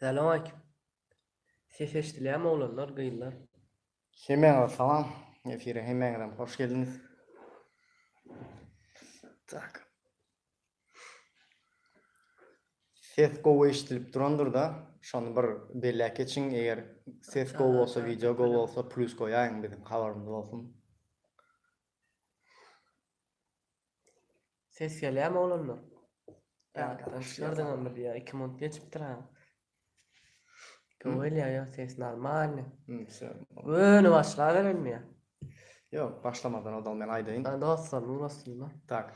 Salamaleýkim. Ses eşdilýärmi oglanlar, gyzlar? Hemmäňize salam. Efire hemmäňizem hoş geldiňiz. Tak. Ses gowy eşidilip durandyr-da, şony bir belläp geçiň, eger ses gowy bolsa, wideo gowy bolsa, plýus goýaýyň biziň habarymyz bolsun. Ses gelýärmi oglanlar? Ýatlaşýardyňmy diýýär, iki minut geçipdir ha. Göwel ýa ýok ses normalny. Göni başlaberin diýýär. Ýok, başlamadan ozal men aýdaýyn. Ha dostlar, nur astynda. Tak.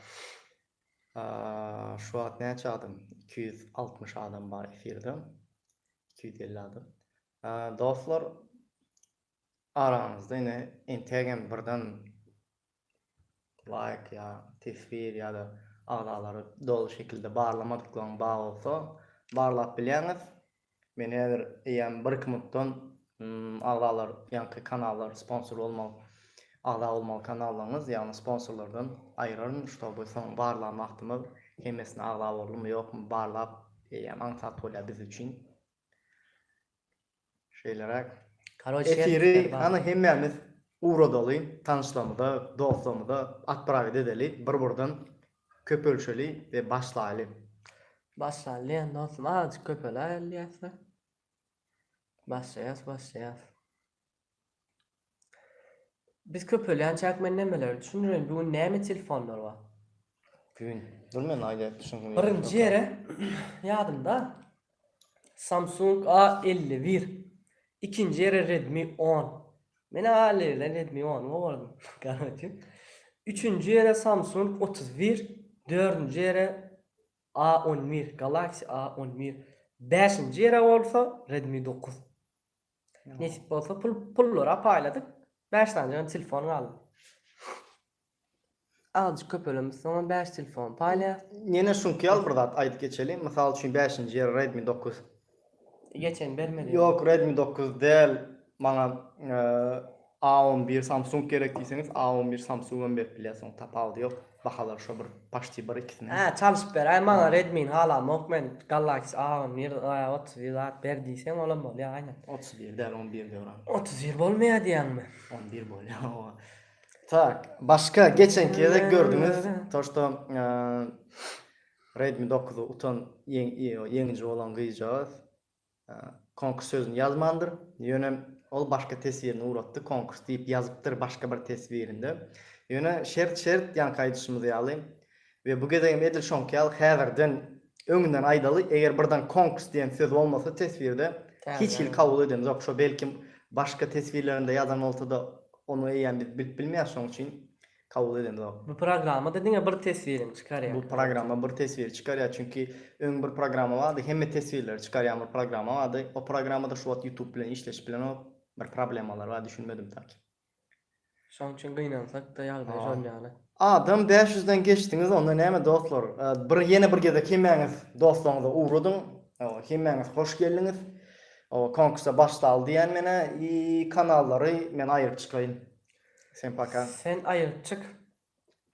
Şu wagt näçe adam? 260 adam bar efirde. 250 adam. Dostlar, araňyzda ine entegem birden laýk ýa teswir ýa-da agzalary doly şekilde barlamadyklaryň bar bolsa barlap bilýäňiz. Men häzir eýýäm bir iki minutdan agzalar ýaňky kanallar sponsor bolmaly agza bolmaly kanallaryňyz ýagny sponsorlardan aýyraryn ştoby soň barlan wagtymda hemmesine agza boldumy ýokmy barlap eýýäm aňsat bolýar biz üçin. Şeýleräk. Karoç şert Efiri işler bar. hany hemmämiz ugradaly, tanyşlarymyza, dostlarymyza atbraget edeli, bir-birden köpelşeli we başlaýly. Başlaýlyň dostum, azajyk köpeläýeli diýäs-de. Başlaýas, başlaýas. Biz köpelýänçäk men nemeleri düşündirin bu gün näme telefonlar bar. Gün. Dur men aýdaýyn düşüngin. Birinji ýere ýadymda Samsung A elli bir. Ikinji ýere Redmi on. Men A elli birden Redmi ony gowardym. Garawçy. Üçünji ýere Samsung otuz bir. Dördünji ýere A on bir. Galaxy A on bir. Bäşinji ýere bolsa Redmi dokuz. Nesip bolsa pul pullara paýladyk. Bäş sanjygam telefon galdy. Azjyk köpelemiş soňam bäş telefon paýlaýas. Ýene şuňky ýaly bir zat aýdyp geçeliň. Mysal üçin bäşinji ýer Redmi dokuz. Geçen bermedi. Ýok Redmi dokuz däl maňa A on bir samsung gerek diýseňiz a on bir samsugam berip bilýäs oň tapawudy ýok bahalary şo bir paşti bir ikisiniň. Hä çalyşyp beraý maňa redmini halamok men galaxy a on bir a otuz bir zat ber diýseň olam bolýa gaýnat. Otuz bir däl on birde öwran. Otuz bir bolmaýa diýýäňmi. On bir bolýa owa. Tak başka geçenki gezek gördüňiz to şto redmi dokuzy utan ýeňiji bolan gyzjagaz Konkurs sözüni ýazmandyr. Ýöne ol başga teswirini uratdy, konkurs diýip ýazypdyr başga bir teswirinde. Ýöne şert şert, ýaňky aýdyşymyz ýaly we bu gezegem edil şoňky ýaly häzirden öňünden aýdaly, eger birden konkurs diýen söz bolmasa teswirde, hiç hili kabul edemzok. Şo belki başga teswirlerinde ýazan bolsada, ony eýýäm biz bilip bilmeýäris, şoň üçin kabul edenizok. Bu programmada diňe bir teswiriň çykarýa. Bu programma bir teswiri çykarýa çünki öň bir programma bardy hemme teswirleri çykarýan bir programma bardy o programmada şu wagt ýutub bilen işleşip bilenok bir problemalar bar düşünmedim taki. Şoň üçin gynansakda ýagdaý şol ýaly. Adam bäş ýüzden geçdiňiz onda näme dostlar bir ýene bir gezek hemmäňiz dostlaryňyza ugradyň hemmäňiz hoş geldiňiz konkursa başdaly diýýän menä i kanallary men aýryp çykaýyn. Sen paka. Sen aýryp çyk.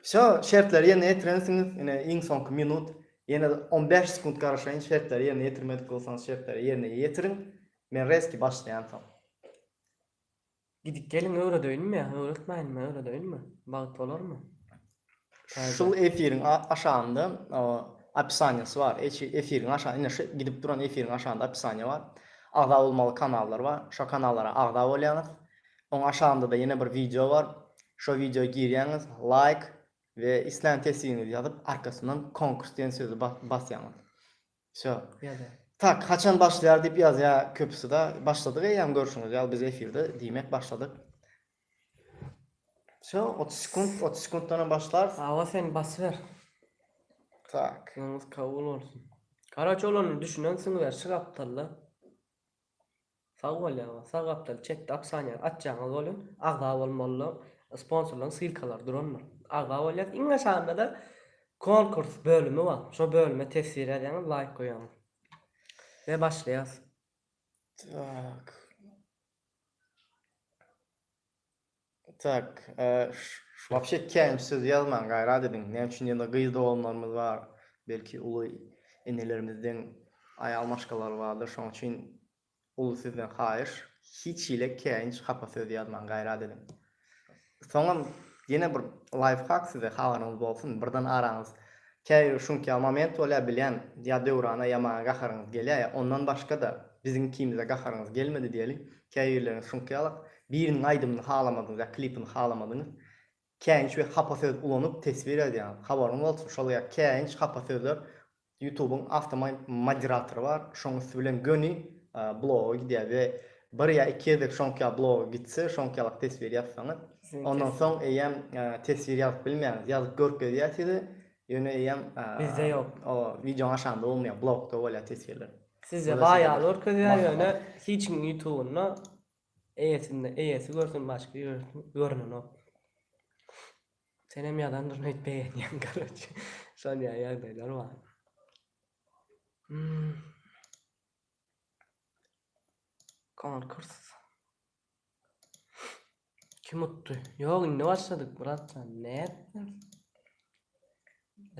Wsyo, şertleri ýerine ýetirensiňiz, ine iň soňky minut, ýene on bäş sekunt garaşaýyn, şertleri ýerine ýetirmedik bolsaňyz şertleri ýerine ýetiriň, men rezki başlaýan soň. Gidip geliň öwredeýinmi ýa öwretmäýinmi öwredeýinmi? Bagt bolarmy? Şul efiriň aşagynda opisaniýasy bar. Efiriň aşagy ine şu gidip duran efiriň aşagynda opisaniýa bar. Agza bolmaly kanallar bar. Şo kanallara agza bolýaňyz. Oň aşagynda-da ýene bir wideo bar. Şo wideo girýäňiz, laýk we islän tesbigiňizi ýazyp, arkasyndan konkurs diýen sözi basýaňyz. Wsyo. Ýazýar. Tak, haçan başlaýar diýip ýazýar köpüsida. Başladyk eýýäm görşüňiz ýaly biz efirde diýmek başladyk. Wsyo, 30 sekunt, 30 sekuntdanam başlar. Hawa sen basyber. Tak. Duaňyz kabul bolsun. Karaç olany düşünen siňler şy gapdalda. Sag bol ýaňy sag gapdal çetde opsaniýany açýaňyz bolun agza bolmalylar sponsorlaryň ssilkalary durandyr agza bolýas iň aşagynda-da konkurs bölümi bar şo bölüme teswir ýazýaňyz laýk goýýaňyz we başlaýas. Tak. Tak, wapşe kän söz ýazmaň, gaýrat ediň. Näme üçin diýende, gyz doganlarymyz bar, belki uly enelerimizden aýal maşgalalary bardyr, şonuň üçin uly sizden haýyş, hiç hili käýinç, hapa söz ýazmaň, gaýrat ediň. Soňam ýene bir laýfhak size, habaryňyz bolsun, birden araňyz käbir şuňka moment bolýar, bilýän, ýa Döwrana ýaman gaharyňyz gelýär, ýa ondan başga-da, biziňkimize gaharyňyz gelmedi diýeli, käbirleriňiz şuňkaýalak, Biriniň aýdymyny halamadyňyz ýa klipini halamadyňyz, käýinç we hapa söz ulanyp teswir edýäňiz. Habaryňyz bolsun, şol ýa käýinç, hapa sözler Ýutubyň awtomo moderatory bar, şoň üsti bilen göni bloga gidýär we bir ýa iki gezek şoňk ýa bloga gitse, şoňk ýalak teswir ýazsaňyz, ondan soň eýýäm teswir ýazyp bilmeýäňiz. Ýazyp görkezýär size, ýöne eýýäm Bizde ýok. O wideoň aşagynda bolmaýar, blogda bolýar teswirler. Sizde baý ýaly görkezýär, ýöne hiç kimiň ýutubynda Eýesinde eýesi görsün başga ýerde görnenok. Senem ýazandyr nädip begenýäň karoçe şol ýaly ýagdaýlar bar. Konkurs. Kim utdy? Ýok indi başladyk bratjan nätdiň?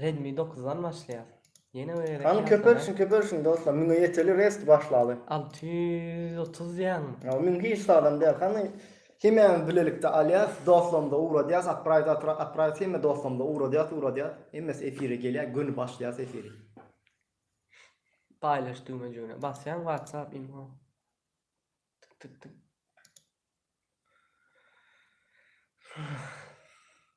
Redmi dokuz dan başlaýar. Ýene bir Hany köpelşiň köpelşiň dostlar müňe ýeteli rest başlaly. Alty ýüz otuz diýýäňmi? Ýok müň hiç zadam däl hany hemämiz bilelikde alýas dostlarymyza ugradýas apraýda atra apraýda hemme dostlarymyza ugradýas ugradýas hemmesi efire gelýär göni başlaýas efiri. Paýlaş düwmejigine basýaň whatsapp imo tyk tyk tyk.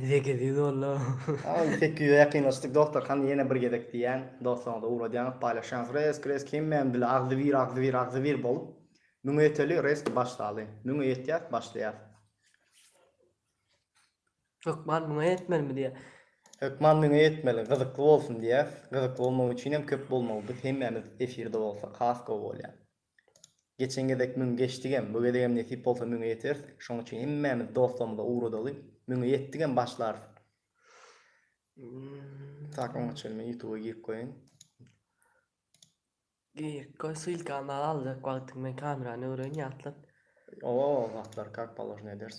Zekiziz boldy. Ýa sekiz ýüze ýakynlaşdyk dostlar hany ýene bir gezek diýýän dostlaryňyza ugradýaňyz paýlaşýaňyz resk resk hemmäniň dili agzybir agzybir agzybir bolup müňe ýeteli resk başlaly müňe ýetýäs başlaýas. Hökman müňe ýetmelimi diýýär. Hökman müňe ýetmeli gyzykly bolsun diýýäs gyzykly bolmagy üçinem köp bolmaly biz hemmämiz efirde bolsak has gowy bolýar. Geçen gezek müň geçdigem, bu gezegem nesip bolsa müňe ýeteris. Şoň üçin hemmämiz dostlarymyza ugradaly. Müňe ýetdigem başlarys. Tak oňa çenli men ýutuba girip goýaýyn. Girip goý ssylkany al aljak wagtyň men kamerany öwren ýatlat. Oba zatlar kak položnýa ederis.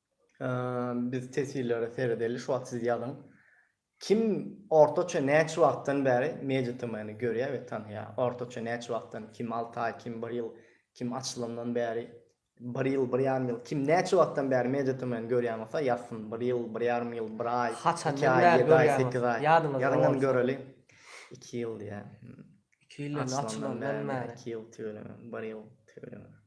Biz teswirlere seredeli şu wagt siz ýazyň. Kim ortaça näçe wagtdan bäri MediaTm-ni görýär we tanaýar? Ortaça näçe wagtdan, kim alty aý, kim bir ýyl, kim açylandan bäri bir ýyl, bir ýarym ýyl, kim näçe wagtdan bäri MediaTm-ni görýän bolsa ýazsyn, bir ýyl, bir ýarym ýyl, bir aý, iki aý, ýedi aý, sekiz aý. Ýazyňam göreli. Iki ýyl diýýär. Iki ýyl indi açylandan bäri. Iki ýyl tüweleme, bir ýyl tüweleme.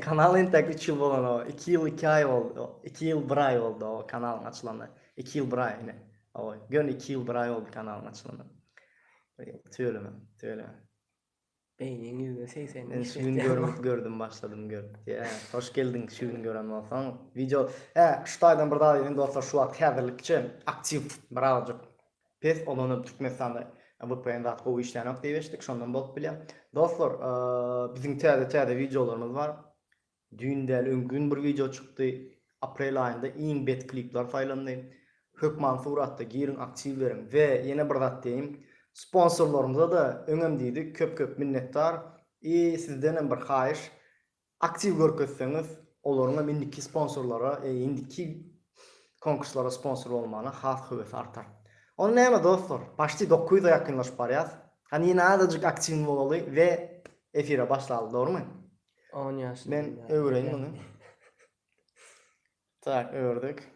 Kanal entek üç ýyl bolan o. Iki ýyl iki aý boldy. Iki ýyl bir aý boldy o kanalyň açylanyna. Iki ýyl bir aý ine. Oý, göni iki ýyl bir aý boldy kanalyň açylanyna. Tüweleme, tüweleme. Beýniň ýüzde segsen Men şu gün görüp gördüm başladym görüp. Ýa, hoş geldiň şu gün gören bolsaň. Wideo, hä, şu taýdan bir zat aýdaýyn dostlar, şu wagt häzirlikçe aktiw birazajyk Pes olany Türkmenistanda vpn zat gowy işlänok diýip eşitdik şondan bolup bilýär. Dostlar biziň täze täze wideolarymyz bar. Düýn däl öňki gün bir wideo çykdy. Aprel aýynda iň bet klipler saýlandy. Hökman suratda giriň aktiw beriň. We ýene bir zat diýeýin. Sponsorlarymyza-da öňem diýdik köp köp minnetdar. I sizdenem bir haýyş Aktiw görkezseňiz, olaryňam indiki sponsorlara, indiki konkurslara sponsor bolmagyna has höwesi artar. Onda näme dostlar, paşti dokuz ýüze ýakynlaşyp barýas. Hany ýene azajyk aktiwny bolaly we efire başlaly, dogrumy? On ýaşyna Men öwüreýin muny. Tak ördük.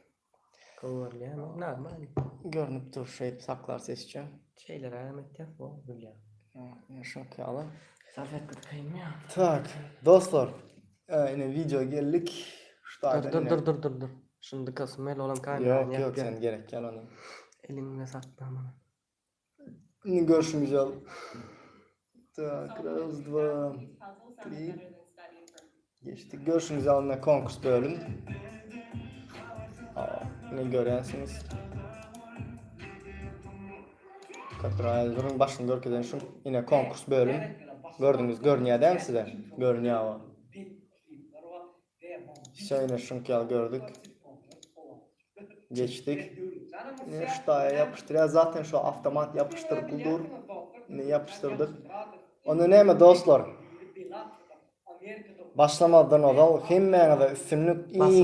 Gowy görünýärmi? Normal. Görnüp dur şeýdip saklar sesçe. Şeýlerägem etýäs gowy durýar. Ýa şok ýaly. Salfetka tykaýynmy ýa? Tak, dostlar. Ee, ine wideo geldik. Şu taýdan Dur ine. dur dur dur dur. Şuny dykasym gelip olam kamerany Ýok, ýok, ýapýan. sen gerek ýaly ony. Eliňde sakla many. Indi görüşümiz ýal. Tak, raz, dva, tri. Geçdik. Görüşümiz ýalynda konkurs bölüm. Ne görýänsiniz? Katraýyň duruň başyny görkezen şu ine konkurs bölüm. Gördüňiz, görünýär däl size? Görünýär o. Şeýle şuňk ýaly gördük. Geçdik. Ine şu daýa ýapyşdyrýar. Zaten şu awtomat ýapyşdyryp dur. Ine ýapyşdyrdyk. Onda näme dostlar? Başlamazdan ozal hemmäňize üstünlik iň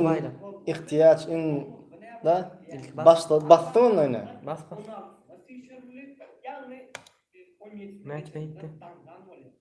ihtiýaç iň da başla basdy onda ine. Bas bas. Näçe ýetdi?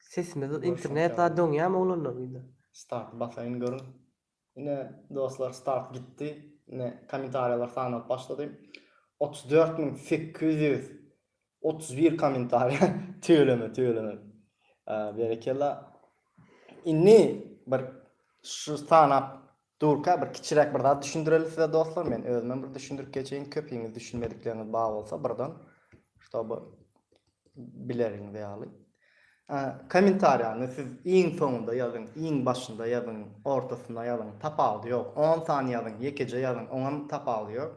Sesimiz internet zady oňýamy oglanlar bize. Start basaýyn görüň. Ine dostlar start gitdi. Ine kommentariýalar sanap başlady. Otuz dört müň sekiz ýüz otuz bir kommentariýa tüweleme tüweleme. Berekella. Indi bir şu sanap Durka bir kiçiräk bir zat düşündireli size dostlar men özümem bir düşündirip geçeýin köpiňiz düşünmedikleriňiz bar bolsa birden ştoby bileriňiz ýaly Komentariýany siz iň soňunda ýazyň iň başynda ýazyň ortasynda ýazyň tapawudy ýok on sany ýazyň ýekeje ýazyň oňam tapawudy ýok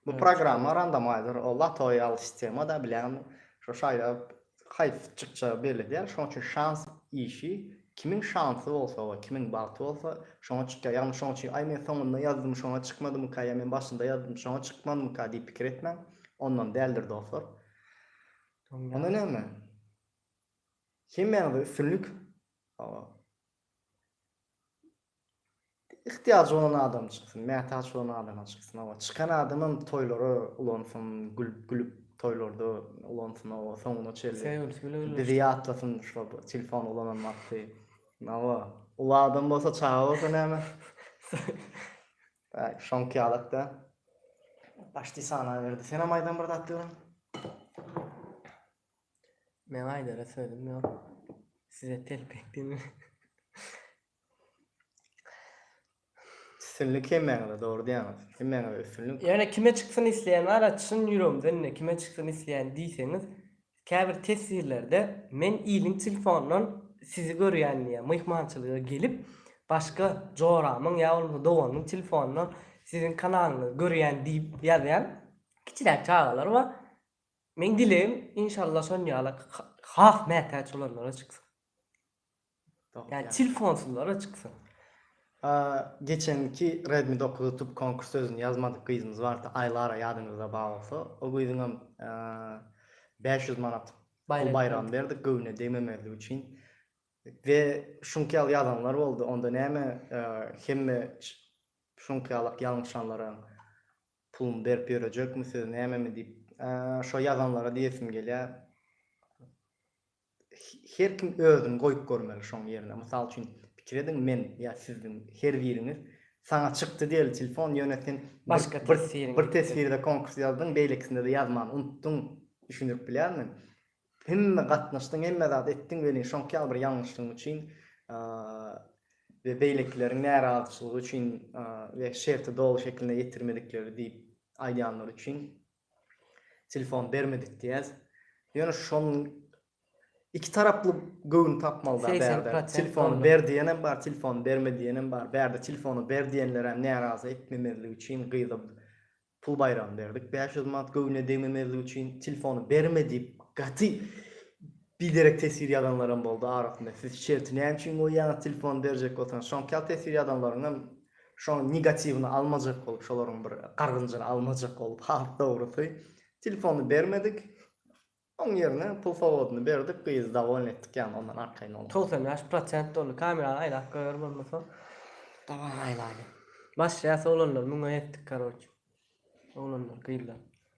bu programma randomaýzer o latoýa ýaly sistema da bilýäňmi şo şaýlap haýsy çykjagy belli däl, şonuň üçin şans işi, kimiň şansy bolsa we kimiň bagty bolsa, şoňa çykýar. Ýagny şonuň üçin, aý men soňunda ýazdym, şoňa çykmadymyka, ýa men başynda ýazdym, şoňa çykmadymyka diýip pikir etmäň. Ondan däldir dostlar. Onda näme? Hemmäňize üstünlik. Sag boluň. Ihtiýajy bolan adam çyksyn, mätäç bolan adama çyksyn oba. Çykan adamam toýlara ulansyn, gülüp gülüp toýlarda ulansyn oba soňuna çenli. Söýgülisi bilen gürleşsin. Bizi ýatlasyn şo telefon ulanan wagty. Oba. Uly adam bolsa, çaga bolsa näme? Bäh, şoňky ýalak-da. Başdi sanaberdi. Senem aýdan bir zat görüň. Meň aýdara sözüm ýok. Size telpek diýme. Üstünlik hemmäňize dogry diýýäňiz. Hemmäňize üstünlik. Ýöne kime çyksyn isleýän bara çyn ýüregimden indi kime çyksyn isleýän diýseňiz käbir teswirlerde men iliň tilfondan sizi görýän diýýär myhmançylyga gelip başga joramyň ýa bolmasa doganymyň tilfondan siziň kanalyňyzy görýän diýip ýazýan kiçiräk çagalar bar meň dilegim inşallah şon ýaly has mätäç bolanlara çyksyn. Ýa telefonsuzlara çyksyn. Geçenki Redmi dokuz utup konkurs özüni ýazmadyk gyzymyz bardy Aýlara ýadyňyzda bar bolsa o gyzyňam bäş ýüz manat pul baýragyny berdik göwnüne degmemezligi üçin we şuňky ýaly ýazanlar boldy onda näme hemme şuňky ýalak ýalňyşanlaram puluny berip ýörejekmi siz nämemi diýip şo ýazanlara diýesim gelýär. Her kim özüni goýup görmeli şoň ýerine. Mysal üçin pikir ediň men ýa siziň her biriňiz saňa çykdy diýeli telefon ýöne sen bir teswirde konkurs ýazdyň beýlekisinde-de ýazmany unutdyň düşündirip bilýärmi? Hemme gatnaşdyň hemme zat etdiň welin şoňky ýaly bir ýalňyşlygyň üçin we beýlekileriň närazyçylygy üçin we şerti doly şekilinde ýetirmedikleri diýip aýdýanlary üçin Telefon bermedik diýýäs. Ýöne şonuň iki taraply göwün tapmaly da bärde. Telefony ber diýenem bar, telefony berme diýenem bar. Bärde telefony ber diýenler hem närazy etmemezlik üçin gyza pul baýragyny berdik bäş ýüz manat göwnüne degmemezlik üçin. Telefony berme diýip gaty biderek teswir ýazanlar hem boldy arasynda. Siz şerti näme üçin goýýaňyz telefony berjek bolsaňyz. Şoňkal teswir ýazanlaryň hem Şoň negatiwyny almajak bolup şolaryň bir gargynjyny almajak bolup has dogrusy telefony bermedik oň ýerine pul sowadyny berdik gyzy dowolny etdik ýany ondan arkaýyn bolmaly. Togsan bäş prosent doldy kamerany aýlap goýar bolmasa daban aýlaýyn başlaýas oglanlar müňe ýetdik karoç oglanlar gyzlar.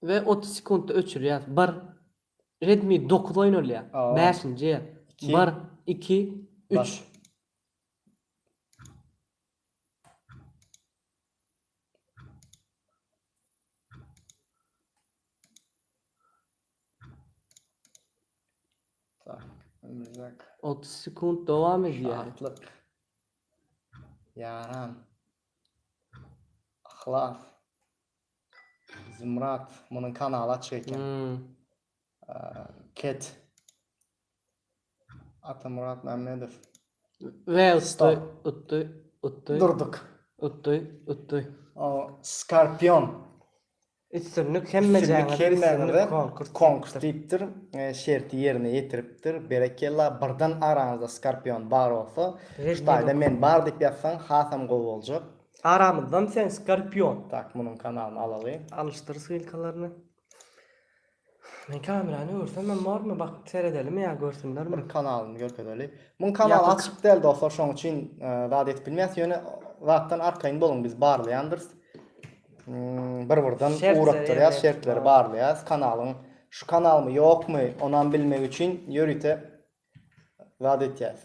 We otuz sekuntda öçürýäs. Bir. Redmi dokuz oýnalýar. Bäşinji. Bir. Iki. Üç. Otuz sekund dowam edýär. Atlyk. Ýaran. Yhlas. Zumrad munuň kanaly açyk eken. Hmm. Ket. Atamurad Mämmedow. Welsda utdy, utdy. Durduk. Utdy, utdy. O Skorpion. Üstünlik hemme jaňyda üstünlik konkurs. Konkurs diýipdir. E, şerti ýerine ýetiripdir. Berekella. Birden araňyzda Skorpion bar bolsa, Şuýda men bar diýip ýazsaň, hasam gowy boljak. Aramyzdan sen skorpion. Tak munuň kanalyny alaly. Alyşdyr ssylkalaryny. Men kamerany öwürsemem bormy bak seredelimi ýa görsünlermi. Kanalyny görkezeli. Muň kanaly açyk däl dostlar şoň üçin zat edip bilmeýäs ýöne zatdan arkaýyn boluň biz barlaýandyrys. Bir birden ugrukdyrýas şertleri barlaýas kanalyň şu kanalmy ýokmy onam bilmek üçin ýörite Zat etýäs.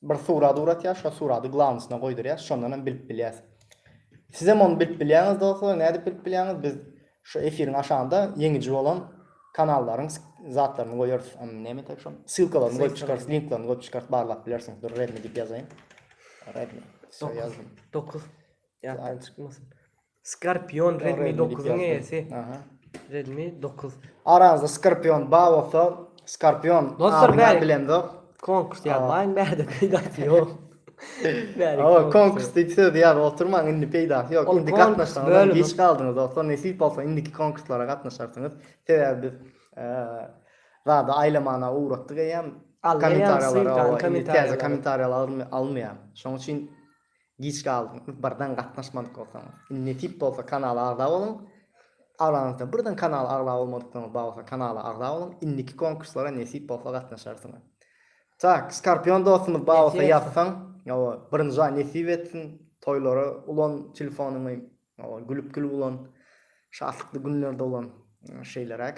Bir surat uratýas, şo suraty glawnysyna goýdurýas, şondan hem bilip bilýäs. Siz hem ony bilip bilýäňiz dostlar, nädip bilip bilýäňiz? Biz şu efiriň aşagynda ýeňiji bolan kanallaryň zatlaryny goýarys. Näme tek şo? Ssylkalaryny goýup çykarys, linklaryny goýup çykarys, barlap bilersiňiz. Dur, Redmi diýip ýazaýyn. Redmi. Şo ýazdym. 9. Ýatdan çykmasyn. Skorpion Redmi dokuzyň eýesi. Aha. Redmi dokuz. Araňyzda Skorpion bar bolsa, Skorpion Dostlar, adyny bäri- bilemzok. Konkurs ýazmaýyň bärde peýdasy ýok. Bäri Awa konkurs konkurs diýip söz ýazyp oturmaň indi peýdasy ýok. Ol Indi konkurs gatnaşmagyňyz bölümi. geç galdyňyz dostlar. Nesip bolsa indiki konkurslara gatnaşarsyňyz. Sebäbi biz eee zady aýlamana ugratdyk eýýäm. Alla ýalysyn, Kommentariýalara kan- owa indi täze kommentariýalar. kommentariýalar alyn- alynmaýar. Şonuň üçin Giç galdyň, birden gatnaşmadyk bolsaňyz. Indi nesip bolsa kanala agza boluň. Aranyzda birden kanala agza bolmadyklaryňyz bar bolsa kanala agza boluň. Indiki konkurslara nesip bolsa gatnaşarsyňyz. Tak, Skorpion dostumyz bar bolsa ýazsaň, hawa, birinji aý nesip etsin, toýlara ulan telefonyňy, hawa, gülüp-gülüp ulan, şatlykly günlerde ulan, şeýleräk.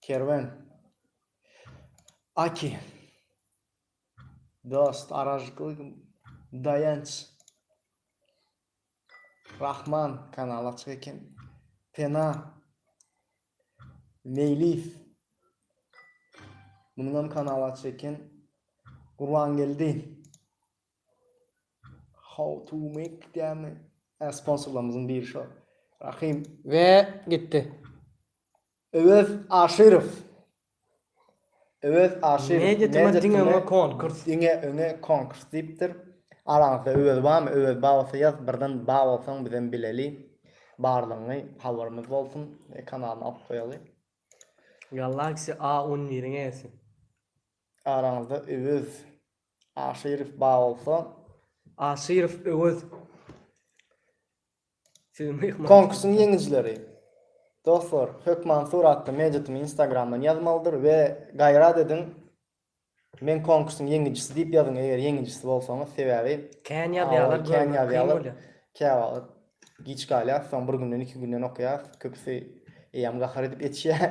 Kerwen. Aki. Dost, aražyklyk, daýanç. Rahman kanal açyk eken. Pena. Meýliýew. Munuň hem kanaly açyk eken. Gurbangeldi. How to make diýämi? Ä sponsorlarymyzyň biri şo. Rahim. We gitdi. Öwez Aşyrow. Öwez Aşyrow. Ne getirme diňe öňe konkurs. Diňe öňe konkurs diýipdir. Araňyzda Öwez barmy? Öwez bar bolsa ýaz, birden bar bolsaň bizem bileli. Bardygyňy habarymyz bolsun. Kanalyny alyp goýaly. Galaxy A on biriň eýesi. Araňyzda Öwez Aşyrow ba bolsa. Aşyrow Öwez. Siziň myhman. Konkursyň ýeňijileri. Dostlar, Hökmansur atly meýdýatymy Instagramdan ýazmalydyr we gaýrat ediň, Men konkursyň ýeňijisi diýip ýazyň, eger ýeňijisi bolsaňyz, sebäbi Kän ýazýarlar, görmek kyn bolýar. Käwagt giç galýar, soň bir günden, iki günden okaýas, köpüsi eýýäm gahar edip ýetişýär.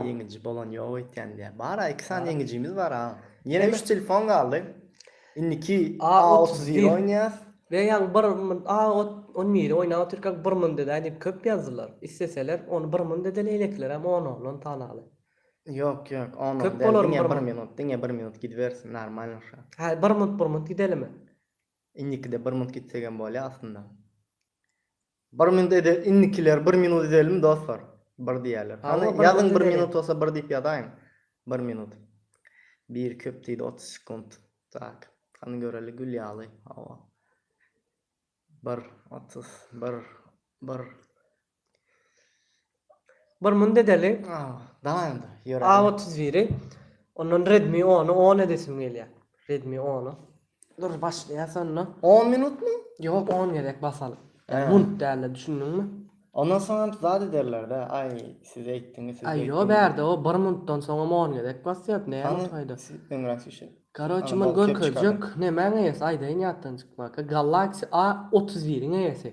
Ýeňiji bolan ýok öýtýän diýýär. Bar-a, iki sany ýeňijimiz bar-a. Ýene üç telefon galdy. Indiki A31 oýnaýas. Real bir A11 oýnap otyrka bir müň dedäý diýip köp ýazdylar. Isleseler ony bir müň dede leýlekilerem on-ondan sanaly. Ýok, ýok, on-on däl. Köp bolar bir müň. Diňe bir minut, diňe bir minut gidibersin, normalno şo. Hä, bir minut, bir minut gidelimi? Indikide bir minut gitsegem bolýar aslynda. Bir minut edel indikiler bir minut edelimi dostlar bir diýerler hany ýazyň bir minut bolsa bir diýip ýazaýyň bir minut bir köp diýdi otuz sekunt tak hany göreli gül ýaly hawa bir otuz bir bir Bir mun dedeli A otuz biri ondan redmi ony on edesim gelýär redmi ony. Dur başlaýas onda. On minutmy? Ýok on gezek basalyp. Ýa munt dälde düşündiňmi? Ondan soňam zat ederlerde aý siz eýtdiňiz siz beýtdiňiz. Ýo bärde o bir muntdan soňam on gezek basýar näme taýda. Öňräk sýužet. Karoçi mun görkezjek nemäň eýesi aýdaýyn ýatdan çykmaka galaksi A otuz biriň eýesi.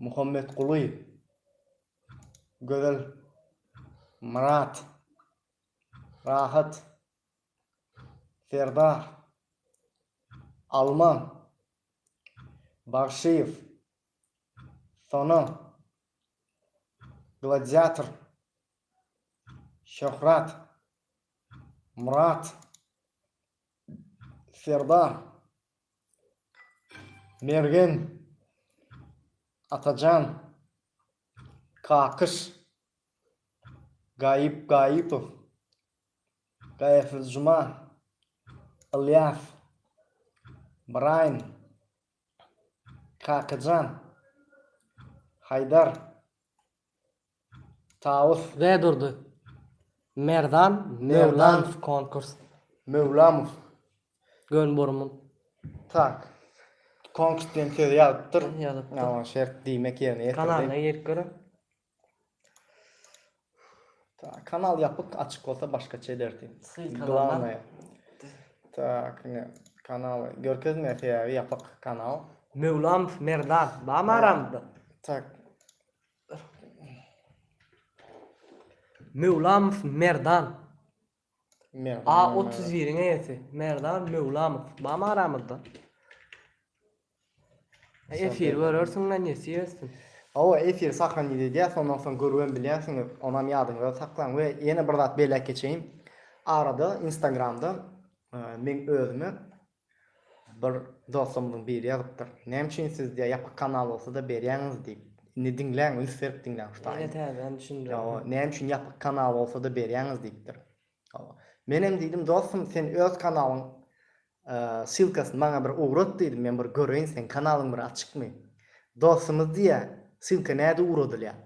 Muhammetguly, Gözel, Myrat, Rahat, Serdar, Alma, Bagşyýew, Sona, Gladiator, Şöhrat, Myrat, Serdar, Mergen Atajan Kakyş Gaýyp Gaýypow Gaýypjuma Ylýas Braýn Kakyjan Haýdar Tawus. Bedurdy. Merdan Möwlamow konkurs. Möwlamow. Gön burmun. Tak. Konkurs diýen sözi ýazypdyr. Ýazypdyr. Ýa şert diýmek ýerine ýetirdi. Kanalyna girip görüň. Tak, kanal ýapyk, açyk bolsa başgaça ederdi. Glawnaýa. Tak, ine kanal görkezmeýär sebäbi ýapyk kanal. Möwlamow Merdan barmy aramyzda? Tak. Möwlamow Merdan. Merdan. A 31-iň eýesi. Merdan Möwlamow. Bamy aramyzda. Efir görersiň men nesip etsin. Hawa efir sahranyz edýär sondan soň görübem bilýänsiňiz onam ýadyňyzda saklaň we ýene bir zat belläp geçeýin arada instagramda men özüme Bir dostumyzyň biri ýazypdyr. Näme üçin siz diýýär ýapyk kanal bolsada berýäňiz diýip. Indi diňläň üns berip diňläň şu taýyny. Ýene täzeden düşündirdim. Näme üçin ýapyk kanal bolsada berýäňiz diýipdir. Menem diýdim dostum sen öz kanalyň ssylkasyny maňa bir ugrat diýdim men bir göreýin seň kanalyň bir açykmy. Dostumyz diýýär ssylka näde ugradylýar.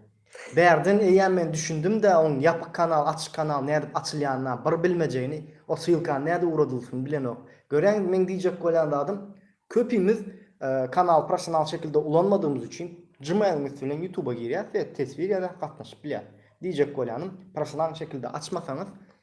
Bärden eýýäm men düşündim-dä oň ýapyk kanal açyk kanal nädip açylýanyna bir bilmejegini o sylkany näde ugradylsyny bilenok. Görýäňiz meň diýjek bolýan zadym köpimiz kanaly professional şekilde ulanmadygymyz üçin gmail-yň üsti bilen ýutuba girýäs we teswir ýaza gatnaşyp bilýäs. Diýjek bolýanym professional şekilde açmasaňyz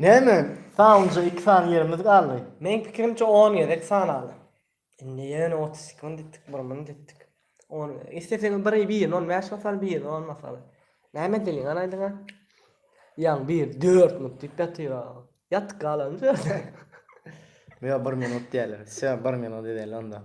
Näme? Sanlyja iki sany ýerimiz galdy. Meň pikirimçe on gezek sanaly. Indi ýöne otuz iki mün ditdik, bir mün ditdik. On gezek. Isleseň biri bir ýüz on bäş masaly, bir ýüz on masaly. Näme diliň galaýdyňa? Ýaň bir dört mün diýip ýatyra. Ýatyp galarmyş ýerde. Ýa bir minut diýerler. Söň bir minut edeli onda.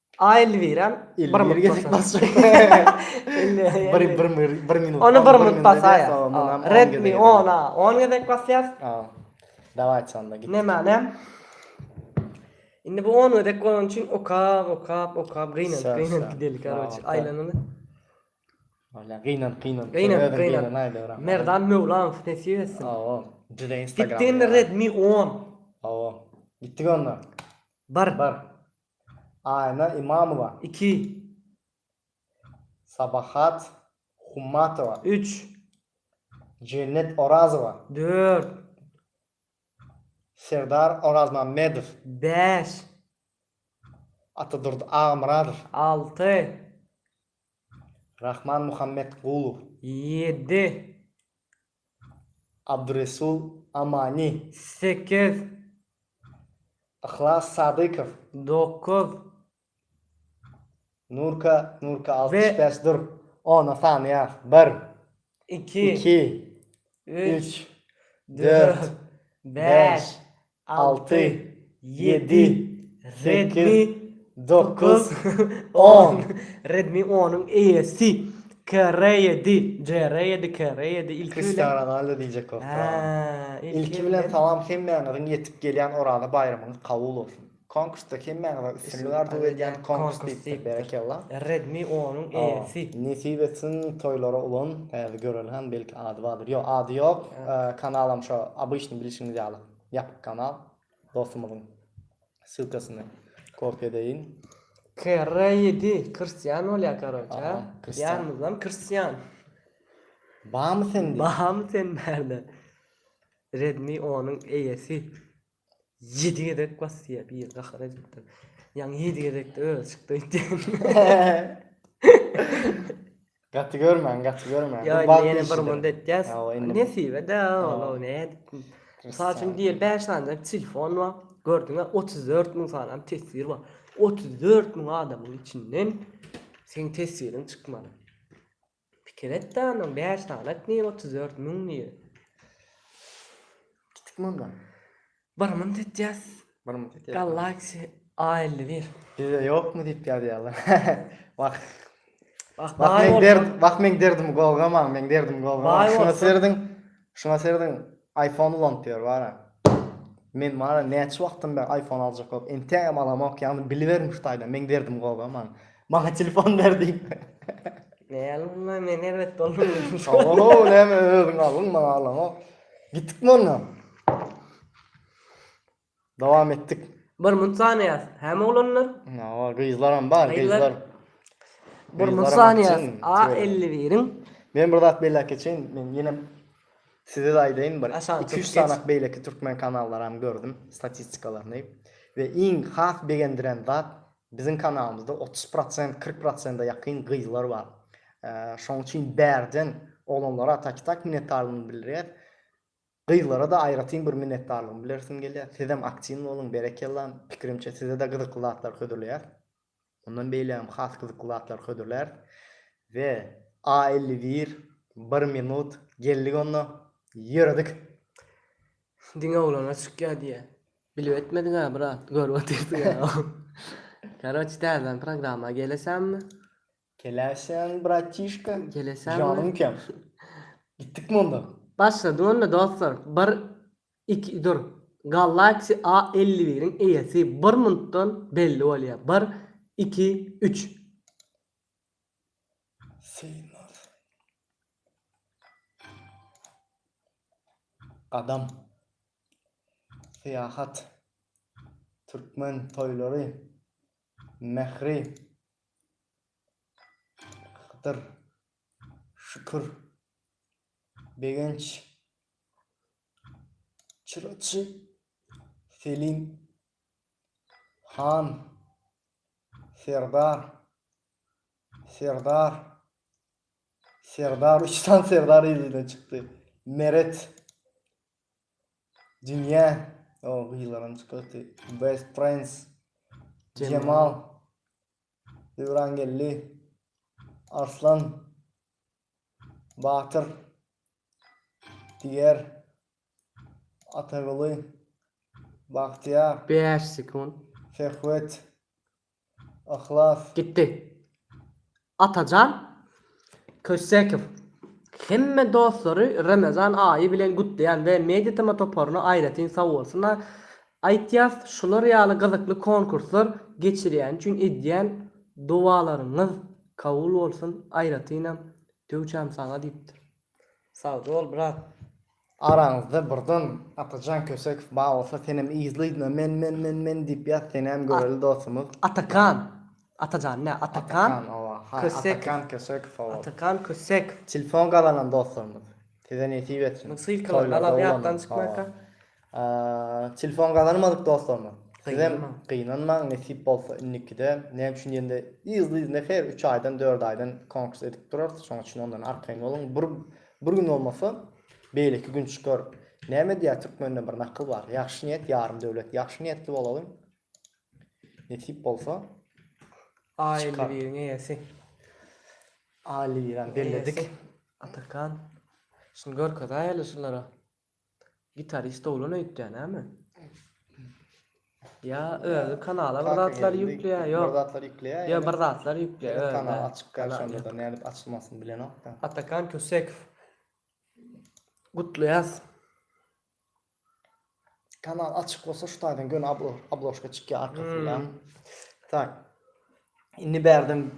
A Elwirem bir minut gezek basjak. Bir bir bir minut. Ony bir minut basaýa. Redmi on a on gezek basýas. Daway çanda git. Näme näm? Indi bu on gezek bolan üçin okap okap okap gynan gynan gidelik garoç aýlanyny. Wala gynan gynan. Gynan gynan. Merdan Möwlam sesi etsin. Awa. Juda Instagram. Gitdi indi Redmi on. Awa. Gitdi onda. Bar bar. Aýna Imamowa, iki. Sabahat Hummatowa, üç. Jennet Orazowa, dört. Serdar Orazmämmedow, bäş. Atadurdy Agamyradow, alty. Rahman Muhammetgulow, ýedi. Abduresul Amani. Sekiz. Yhlas Sadykow. Dokuz. Nurka Nurka altmyş bäş dur ona sany ýaz bir iki üç dört bäş Alty, ýedi, sekiz, dokuz, on. Redmi onuň eýesi. Kere ýedi, jere ýedi, kere ýedi. Ilki bilen. Kristiano Ronaldo diýjek bolup duraryn. Ilki bilen salam hemmäňiziň ýetip gelýän Oraza baýramyňyz kabul bolsun. Konkursda hemmäňize üstünlik arzuw edýän konkurs diýipdir berekella. Redmi onuň eýesi. Nesip etsin toýlara ulan, häzir göreli han belki ady bardyr. Ýok ady ýok kanalam şo obyçny bilişiňiz ýaly. Ýapyk kanal dostumyzyň ssylkasyny kopiýa edeýin. Kerre ýedi krstýan bolýar karoçe a. Diýarymyzam krstýan. Bamy sende? Bamy senlerde? Redmi onuň eýesi ýedi gezek basýa bir gahar edipdir. Ýaňy ýedi gezekde özi çykdy öýtýän. Gaty görmäň, gaty görmäň. Ýa indi ýene bir munda etýäs. Nesibe de ola nädip. Mysal üçin diýeli bäş sanyjak telefon bar. Gördüňä otuz dört müň sanam teswir bar. Otuz dört müň adamyň içinden seň teswiriň çykmaly. Pikir et-de ondan bäş sany et nirä otuz dört müň nirä. Kiçik munda. Bir munt etýäs. Bir munt etýäs. Galaxy A51. Bizde ýokmy diýip ýazýarlar. Wah. Wah, wah meň derdim, wah meň derdim gowgamaň, meň derdim gowgamaň. Şuna serediň. Şuna serediň. iPhone ulanyp ýör bara. Men bara näçe wagtdan bäri iPhone aljak bolup, entegem alamok, ýagny biliberiň şu taýdan, meň derdim gowgamaň. Maňa telefon ber diýip. Näme men erbet bolmady. Oho, näme özüň aldyň, maňa alamok. Gitdikmi onda? Dowam etdik. Bir munt sanaýas. Häme oglanlar? Hawa, gyzlaram bar, gyzlar. Bir munt sanaýas. A 51-iň. Men bir zat belläp geçeýin. Men ýene size aýdaýyn bir. 2-3 sanak beýleki türkmen kanallaram gördüm statistikalaryny. We iň has begendiren zat Biziň kanalymyzda otuz prosent kyrk prosenta ýakyn gyzlar bar. Şoň üçin bärden oglanlara taki tak minnetdarlygymy bildirýäs. Gyzlara-da aýratyn bir minnetdarlygymy bilersim gelýär. Sizem aktiwny boluň, berekella. Pikirimçe size-de gyzykly zatlar hödürleýäs. Mundan beýlägem has gyzykly zatlar hödürläris. We a elli bir, bir minut, geldik onda. Ýöredik. Diňe oglana çykýa diýýä. Bilip etmediňä brat görüp otyrsyňa. Karoç täzeden programma gelesenmi? Geleşen bratişka. Gelesenmi? Janymkem. Gitdikmi onda? Başladyň onda dostlar bir iki dur Galaxy A elli biriň eýesi bir minutdan belli bolýar bir iki üç. Synag. Gadam. Syýahat. Türkmen toýlary. Mähri. Hydyr. Şükür. Begenç. Çyraçy. Selim. Han. Serdar. Serdar. Serdar üç tane Serdar elinden çykdy. Meret. Dünya. O gyzlaram çykdy. Best Prince. Cemal. Döwran geldi. Arslan. Batyr diýer Ataguly Bagtyýar. 5 sekunt. Söhbet. Yhlas. Gitdi. Atajan Kössekow hemme dostlary Remezan aýy bilen gutlaýan we Mediatema toparyna aýratyn sagbolsunlar aýtýas şular ýaly gyzykly konkurslar geçirýäni üçin edýän dowalaryňyz Kabul bolsun aýratynam döwçäm saňa diýipdir. Sagjybol brat. Araňyzda birden Atajan Kösekow bar bolsa senem yzlydyna men men men men diýip ýaz senäm göreli dostumyz. Atakan. Atajan dä Atakan. Atakan owa ha Atakan Kösekow owa. Atakan Kösekow. Telefon gazanan dostlarymyz size nesip etsin. Ssylkalar galan ýatdan çykmaýka. Telefon gazanmadyk dostlarymyz. Sizem gynanmaň, nesip bolsa indikide. Näme üçin diýende, yzly-yzyna her üç aýdan, dört aýdan konkurs edip durarys. Şonuň üçin ondan arkaýyn boluň. Bir bir gün bolmasa, beýleki gün çykar. Näme diýýär türkmende bir nakyl bar. Ýagşy niýet ýarym döwlet. Ýagşy niýetli bolalyň. Nesip bolsa, A elli biriň eýesi. A elli birem belledik. Atakan. Şuny görkezäýeli şulara. Gitarist oglan öýtýä näme? Ýa özi kanala bir zatlar ýükleýä, ýok. Bir zatlar ýükleýä. Ýa bir zatlar ýükleýä. Kanal açyk garşanda nädip açylmasyn bilenok. Atakan Kösekow. Gutlaýas. Kanal açyk bolsa şu taýdan göni abloşka çykýa arkasynda. Tak. Indi bärden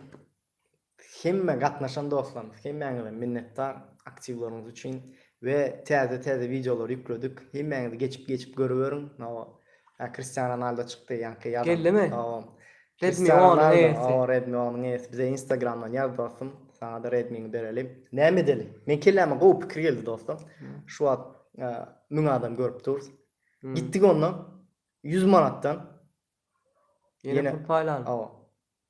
Hemme gatnaşan dostlarymyz hemmäňize minnetdar aktiwlaryňyz üçin we täze täze wideolary ýükledik hemmäňiz geçip geçip görüberiň nao ýa Kristiano Ronaldo çykdy ýaňky ýazan Gellimi? nao Redmi Kristiano on Ronaldo ES. nao Redmi on ES bize instagramdan ýaz dostum saňada Redmiňi bereli. Näme edeli? Meň kelläme gowy pikir geldi dostum. Şu wagt müň adam görüp dur. Gitdik onda ýüz manatdan. Ýene pul paýlanyp. Hawa.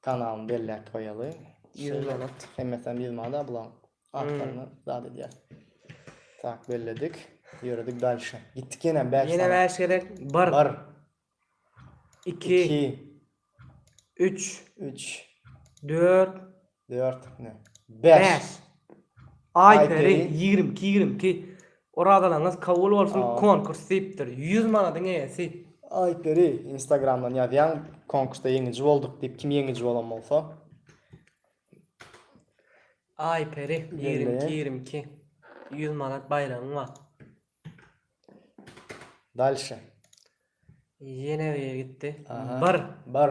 Kanalyny belläp goýaly. Ýüz manat. Hemmesem ýüz manada bulaň. Atlaryny zat edýär. Tak belledik. Ýöredik dalşa. Gitdik ýene bäş. Ýene bäş gerek. Bir. Bir. Iki. Iki. Üç. Üç. Dört. Dört. Bäş. Bäş. Aý peri. Ýigrimi iki. Ýigrimi iki. Orazalaryňyz kabul bolsun konkurs diýipdir ýüz manadyň eýesi. Aýtberi instagramdan ýazýaň konkursda ýeňiji bolduk diýip kim ýeňiji bolan bolsa. Aýperi ýigrimi iki ýigrimi iki ýüz manat baýragyň bar. Dalşe. Ýene bir ýere gitdi. Bir. Bir.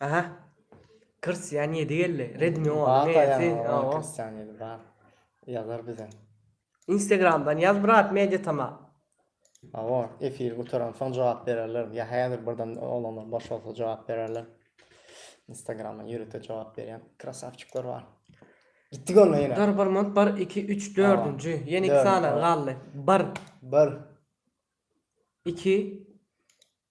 Aha. Kristian ýedi geldi. Redmi Bar onuň da eýesi. ýaňy Oho. oňa Kristian ýedi bar. Ýazar bize. Instagramdan ýaz brat media tama. Hawa, efir gutaransoň jogap bererler. Ýa häzir birden olanlar boş bolsa jogap bererler. Instagramdan ýörite jogap berýän krasawçyklar bar. Gitdik onda ýene. Dur bir minut bir iki üç Hawa. dördünji. Ýene iki Dördünji, sany hawa. galdy. Bir, Bir. iki,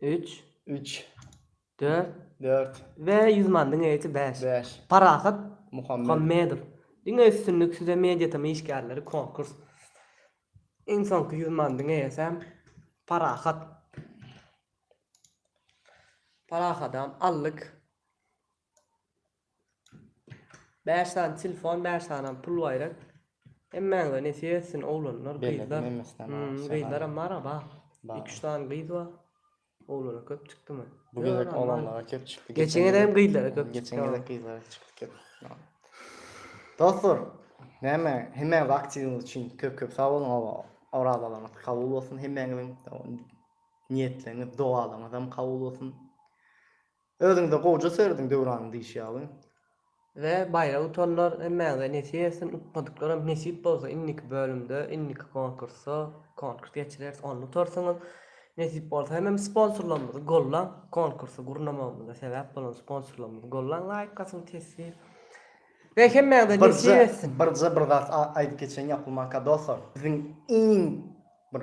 Üç. Üç. Dört. Dört. We ýüz man diňe ýiti bäş. Bäş. Parahat. Muhammed. Muhammedow. Diňe üstünlik size media tm işgärleri konkurs. Iň soňky ýüz man diňe ýesem Parahat. Parahatam aldyk. Bäş sany telefon bäş sanam pul baýrat. Hemmäňize nesip etsin oglanlar Belli, gyzlar. Memesden Hum, aşa Gyzlaram galan. bar aba. Bar. Iki üç sany gyz bar. Oglanlar köp çykdymy? Bu Ýok, gezek aba. oglanlara köp çykdy. Geçen gezek hem gyzlara köp Geçen çykdy. gezek gyzlara çykdy köp. Dostlar, näme, hemmäňiz aktiwiňiz üçin köp-köp sag boluň. Aba, Orazalaryňyz kabul bolsun hemmäňiziň. Niýetleriňiz, dogalaryňyzam kabul bolsun. Özüňde gowja serediň Döwranyň diýşi ýaly. We baýra utanlar hemmäňize nesip etsin utmadyklaram nesip bolsa indiki bölümde indiki konkursda konkurs geçireris onda utarsyňyz nesip bolsa hemem sponsorlarymyzy gollaň konkursy gurnamagymyza sebäp bolan sponsorlarymyzy gollaň laýk basyň teswir we hemmäňize nesip etsin. Birje bir zat aýdyp geçeýin ýapylmanka doslar biziň iň bir